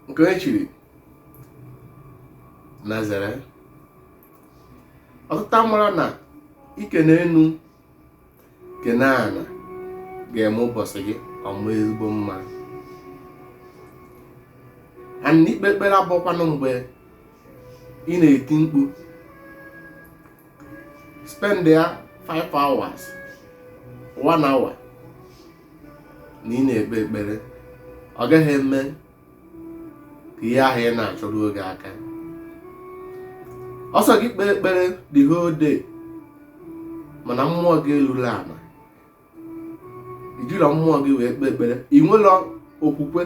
nke e chiri nazareth ọtụtụ amarọ na ikene enu kene ana ga-eme ụbọchị gị ọ maa ezigbo mma and na ikpe ekpere abụrọkwanụ mgbe ị na-eti mkpu spend ya 5 hours 1 hour na ị na-ekpe ekpere ọ gaghị eme ka ihe ahụ ị na-achọ ruo gị aka ọ sọ gị kpee ekpere the whole day mana mmụọ gị elurọ ala ijirọ mmụọ gị wee kpee ekpere ị nwerọ okwukwe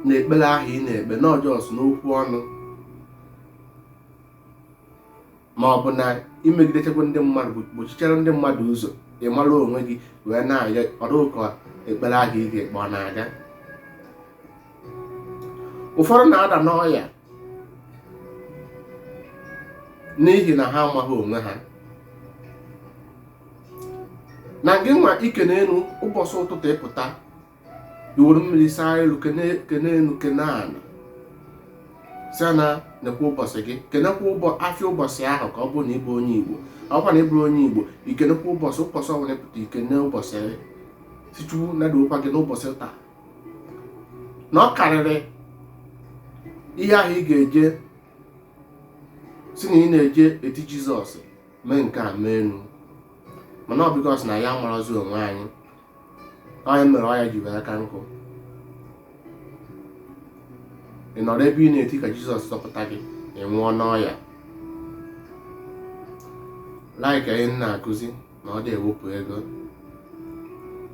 na ekpere ahụ ị na-ekpe na ọ just n'okwu ọnụ ma ọ bụ na imegidechakwa ndị mmadụ gbochichara ndị mmadụ ụzọ ị mara onwe gị wee na-ayọ ọ dị ka ekpere ahụ ị ga-ekpe ọ na-aga ụfọdụ na-ada n'ọya n'ihi na ha amaghị onwe ha na gị nwa ikene enu ụbọchị ụtụtụ ịpụta iwere mmiri saa iru kene enu kene ana si na nekwa ụbọchị gị kenekwa ụbọ afịa ụbọchị ahụ ka ọ bụrụ na ịbụ onye igbo ọkwa na ịbụrụ onye igbo ikenekwa ụbọchị ụbọchị ọbụla pụta ikene ụbọchị gị si chukwu nadokwa gị n'ụbọchị taa na ọ karịrị ihe ahụ ị ga-eje si na ị na-eje eti jizọs mee nke a mee enu mana ọ because na anyị amarọzi onwe anyị ọ ya mere ọya ji wee aka nkụ ị nọrọ ebe ị na-eti ka jizọs zọpụta gị ị nwụọ n'ọya like ihe m na-akụzi na ọ dị ewepụ ego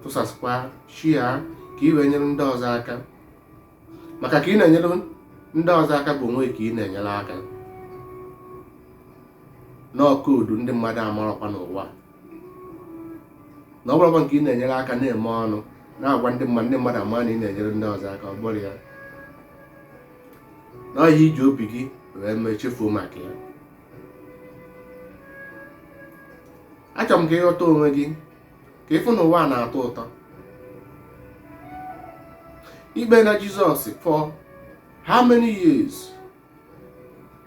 tụsasịkwa share ka ị wee nyere ndị ọzọ aka maka ka ị na-enyere ndị ọzọ aka bụ onwe ka ị na-enyere aka na ọ code ndị mmadụ amarọkwa n'ụwa na ọ bụrọkwa nke ị na-enyere aka na-eme ọnụ na-agwa ndị mmadụ ndị mmadụ ama na ị na-enyere ndị ọzọ aka ọ bụrọ ya na ọ ihe iji obi gị wee mee chefuo maka ya achọrọ m ka ịghọta onwe gị ka ịfụ na ụwa na-atọ ụtọ ikpena jizọs for how many years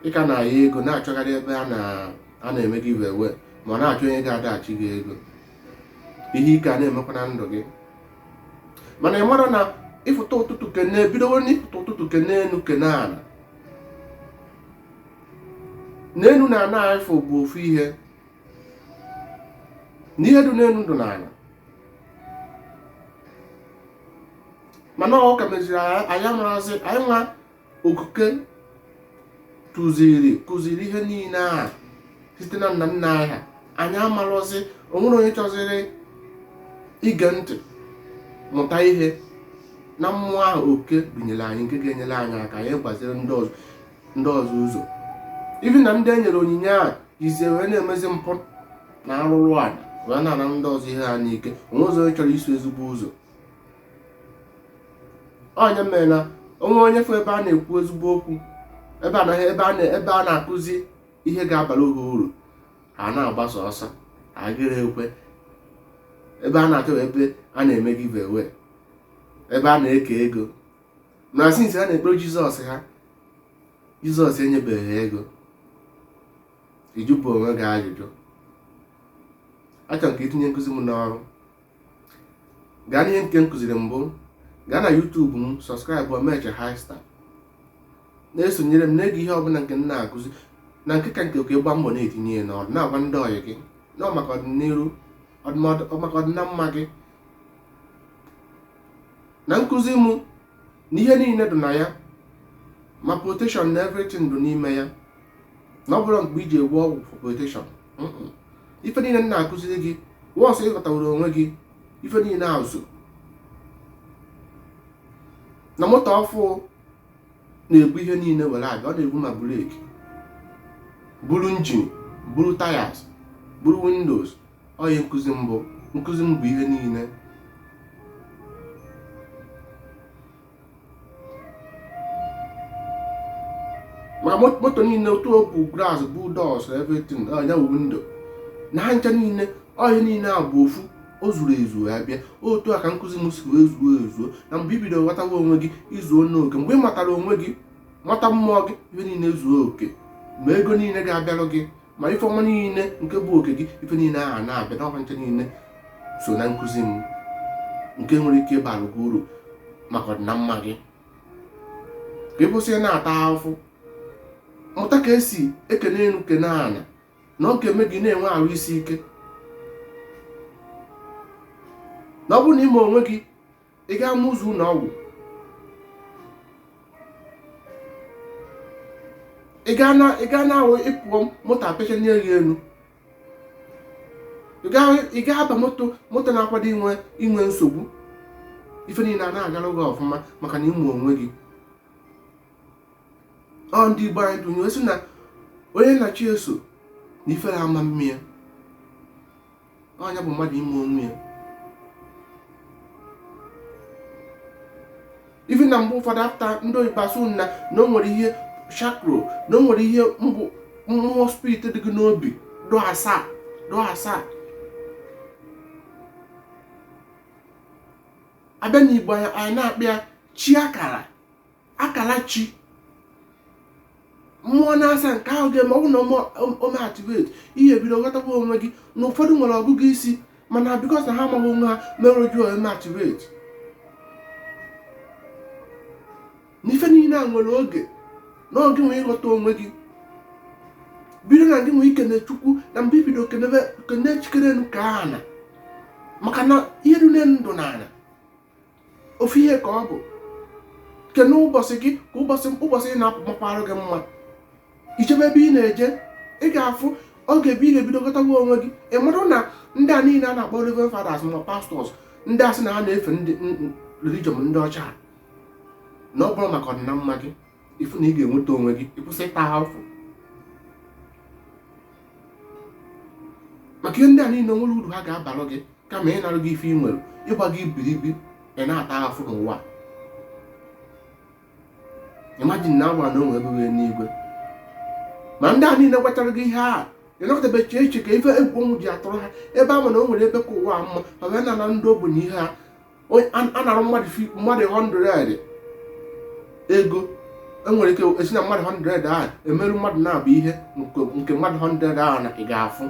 ị ka na-ayọ ego na-achọgharị ebe a na- a na-eme giveaway ma na-achọ onye ga-adash gị ego ihe ike a na-emekwa na ndụ gị mana ị marọ na ịfụta ụtụtụ kene ebidowo n'ịfụta ụtụtụ kene enu kene ana na enu na ana ịfụ bụ ofu ihe n'ihe dị n'elu dị n'ala mana ụka meziri anyị amarọzi anyị nwa okike tụziri kụziri ihe niile a site na nna nna anyị ha anyị amarọzi o nwerọ onye chọziri ige ntị mụta ihe na mmụọ ahụ oke binyere anyị nke ga-enyere anyị aka anyị gbaziri ndị ọzọ ndị ọzọ ụzọ even na ndị e nyere onyinye a jizie wee na-emezi mpụ na arụrụ ala wee na-ana ndị ọzọ ihe ha n'ike o nwezọ onye chọrọ iso ezigbo ụzọ ọ ya mere na o nwee onye fụ ebe a na-ekwu ezigbo okwu ebe a na-akụzi ihe ga-abara ha uru ha na-agbasa ọsọ agịrị ekwe ebe a na-achọ ebe a na-eme giveaway ebe a na-eke ego na since ha na-ekpere jizọs ha jizọs enyebeghị ha ego ị jụbe onwe gị ajụjụ achọrọ m ka i tinye nkụzi m n'ọrụ gaa n'ihe nke m kụziri mbụ gaa na YouTube m subscribe Omeche High Star na-esonyere m na-ege ihe ọbụla nke m na-akụzi na nke ka nke ka ị gba mbọ na-etinye ya n'ọrụ na-agwa ndị ọyị gị na maka ọdịnihu maka ọdịnamma gị na nkụzi mụ na ihe niile dị na ya ma protection na everything dị n'ime ya na ọ bụrọ mkpa ije gwọ ọgwụ for protection ife niile m na-akụziri gị once ị ghọtawara onwe gị ife niile ezuo na moto ọfụ na-ebu ihe niile were abịa ọ na-ebu ma brake buru engine buru tires buru windows ọ ihe nkụzi m bụ nkụzi m bụ ihe niile ma moto niile otu o bu glass bu doors everything ya bụ window na ha ncha niile ọ ihe niile a bụ ofu o zuru ezu ya bịa otu a ka nkụzi m si wee zuo ezu na mgbe i bido bidoro ghọtawa onwe gị i zuona oke mgbe ị matara onwe gị mata mmụọ gị ihe niile zuo oke ma ego niile ga-abịarụ gị ma ife ọma niile nke bụ oke gị ife niile ahụ na-abịa na ọkwa ncha niile so na nkụzi m nke nwere ike ịbara gị uru maka ọdịnamma gị ka ị kwụsị na-ata ahụhụ mụta ka e si ekene elu kene ala na ọ ga-eme gị na-enwe arụ isi ike na ọ bụrụ na ime onwe gị ị ga-ama ụzọ ụlọ ọgwụ ị ga na ị ga na-awụ ị pụọ moto apecha nye gị elu ị ga ị ga-aba moto moto na-akwado inwe inwe nsogbu ife niile a na-agara gị ọfụma maka na ị ma onwe gị ọ ndị igbo anyị tụnye sị na onye na chi ya so na ife ama-eme ya ọ nya bụ mmadụ ịma onwe ya ifi na mgbe ụfọdụ after ndị oyibo asị na na o nwere ihe chakra na o nwere ihe bụ mmụọ spirit dị gị n'obi dụ asaa dụ asaa a bịa n'igbo anyị na-akpọ ya chi akara akala chi mmụọ naasaa nke ahụ ga-eme ọ bụ na o mee activate i ebido ghọtakwa onwe gị na ụfọdụ nwere ọgụgụ isi mana because na ha amaghị onwe ha mere jụọ o mee activate n'ife niile a nwere oge na oge nwee ị ghọta onwe gị bido na gị wee kene chukwu na mgbe i bido kene chi kere enu ka ana maka na ihe dị n'elu na dụ na ana ofu ihe ka ọ bụ kene ụbọchị gị ka ụbọchị ụbọchị ị na-apụ makwarụ gị mma i chebe ebe ị na-eje ị ga-afụ oge ebe ị ga-ebido ghọtawa onwe gị ị marụ na ndị a niile a na-akpọ reverend fathers ma pastors ndị a sị na ha na-efe ndị religion ndị ọcha na ọ bụrọ maka ọdịnamma gị ị fụ na ị ga-enweta onwe gị ị kwụsị ịta ahụfụ maka ihe ndị a niile enwerọ uru ha ga-abalụ gị kama ịnarụ gị ife i nwere ịgba gị ibiribi ị na-ata ahụfụ n'ụwa imagine na a gwa na o nwe ebe bụ enigwe ma ndị a niile gwachara gị ihe a ị nọkatabeghị chee ka ife egwu ọnwụ ji atụrụ ha ebe ha ma na o nwere ebe ka ụwa mma ma bịa na-ana ndị ogbenye ihe ha a narụ mmadụ 100 ego e nwere ike e si na mmadụ 100 ahụ emerụ mmadụ naabọ ihe nke mmadụ 100 ahụ na ị ga-afụ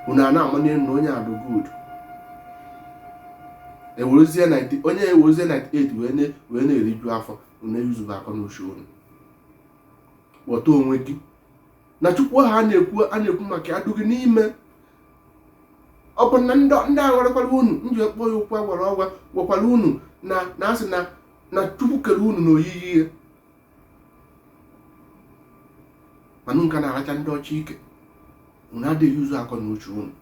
unu ana-amanị enu na onye a dụ good ewerezie onye ewerezie 98 wee na-eriju afọ unu eyuzuba akọ na uche unu ghọta onwe gị na chukwu ahụ a na-ekwu a na-ekwu maka ya dụ gị n'ime ọ bụ na ndị a gwarakwara unu m ji ekpọ ya ụkwụ agwara ọgwa gwakwara unu na na a sị na na chukwu kere unu na oyiyi ya ma unu ka na-aracha ndị ọcha ike unu adịghị use akọ na uche unu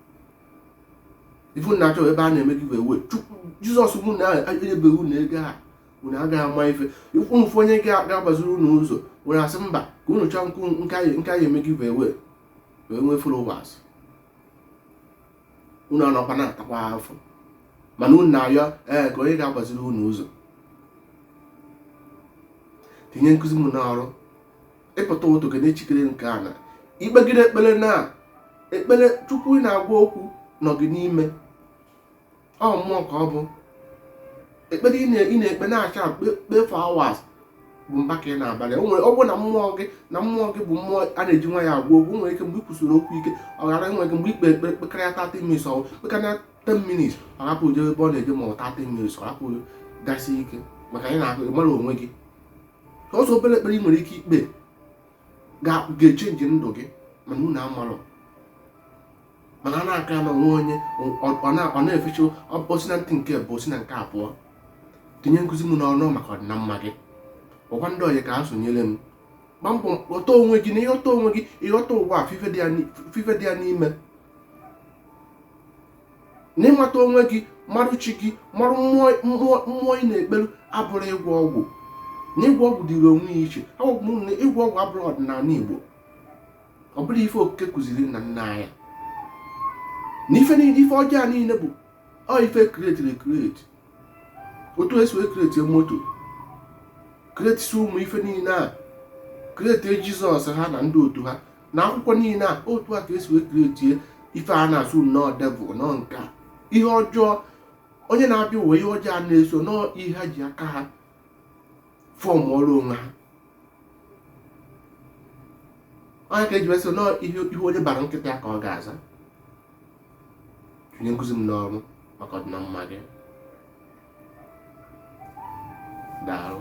ị fụ na-achọ ebe a na-eme gị wee wee chukwu jizọs mụ na enyebeghị unu ego a unu agaghị ama ife unu fụ onye ga-agbaziri unu ụzọ unu asị mba ka unu chọọ nke anyị eme gị wee wee nwee followers unu anọkwa na-atakwa afụfụ mana unu na-ayọ ee ka onye ga-agbaziri unu ụzọ tinye nkụzi m n'ọrụ ị pụta ụtụtụ gị na-echikere nke a na ikpegide ekpere na ekpere chukwu ị na-agwa okwu nọ gị n'ime ọ mmụọ ka ọ bụ ekpere ị na-ekpe na-acha kpee for hours bụ mbọ ka ị na-agbalị ọ bụrụ na mmụọ gị bụ mmụọ a na-eji nwayọ agwa okwu nwere ike mgbe ị kwusiri okwu ike ọ ghara nwere ike mgbe i kpe ekpere kpekarịa 30 minutes ọwụ kpekarịa 10 minutes ọ rapụ je ebe ọ na-eje ma ọ 30 minutes ọ rapụ gasị ike maka anyị na-ahụ ịmara onwe gị ọ sọ obere ekpere ị nwere ike ikpe ga-echenji ndụ gị mana unu amarọ mana a na-aka na o nwee onye ọ na-efecha o si na ntị nke mbụ o si na nke abụọ tinye nkụzi m n'ọrụ maka ọdịnamma gị kpọkwa ndị ọyị ka ha sonyere m gba mbọ ghọta onwe gị na ịghọta onwe gị ịghọta ụwa na ife dị ya n'ime na ịmata onwe gị marụ chi gị marụ mmụọ ị na-ekpelu abụrọ ịgwọ ọgwụ na ịgwọ ọgwụ dịrị onwe ya iche na ịgwọ ọgwụ abụrọ ọdịnanị Igbo ọ bụrọ ife okike kụziri nna nna anyị na ife niile ife ọjọọ niile bụ ọ ife e kretili ekreti otu esi wee kreti moto kretisi ụmụ ife niile a kreti jizọs ha na ndị otu ha na akwụkwọ niile a otu a ka esi wee kretie ife a na-asị na ọ devil na ọ nke a ihe ọjọọ onye na-abịa ụwa ihe ọjọọ na-eso na ọ ihe ha ji aka ha fọmụọrọ onwe ha ọ ya ka eji wee sị na ọ ihe onye bara nkịta ya ka ọ ga-aza tinye nkụzi m n'ọrụ maka ọdịnamma gị daalụ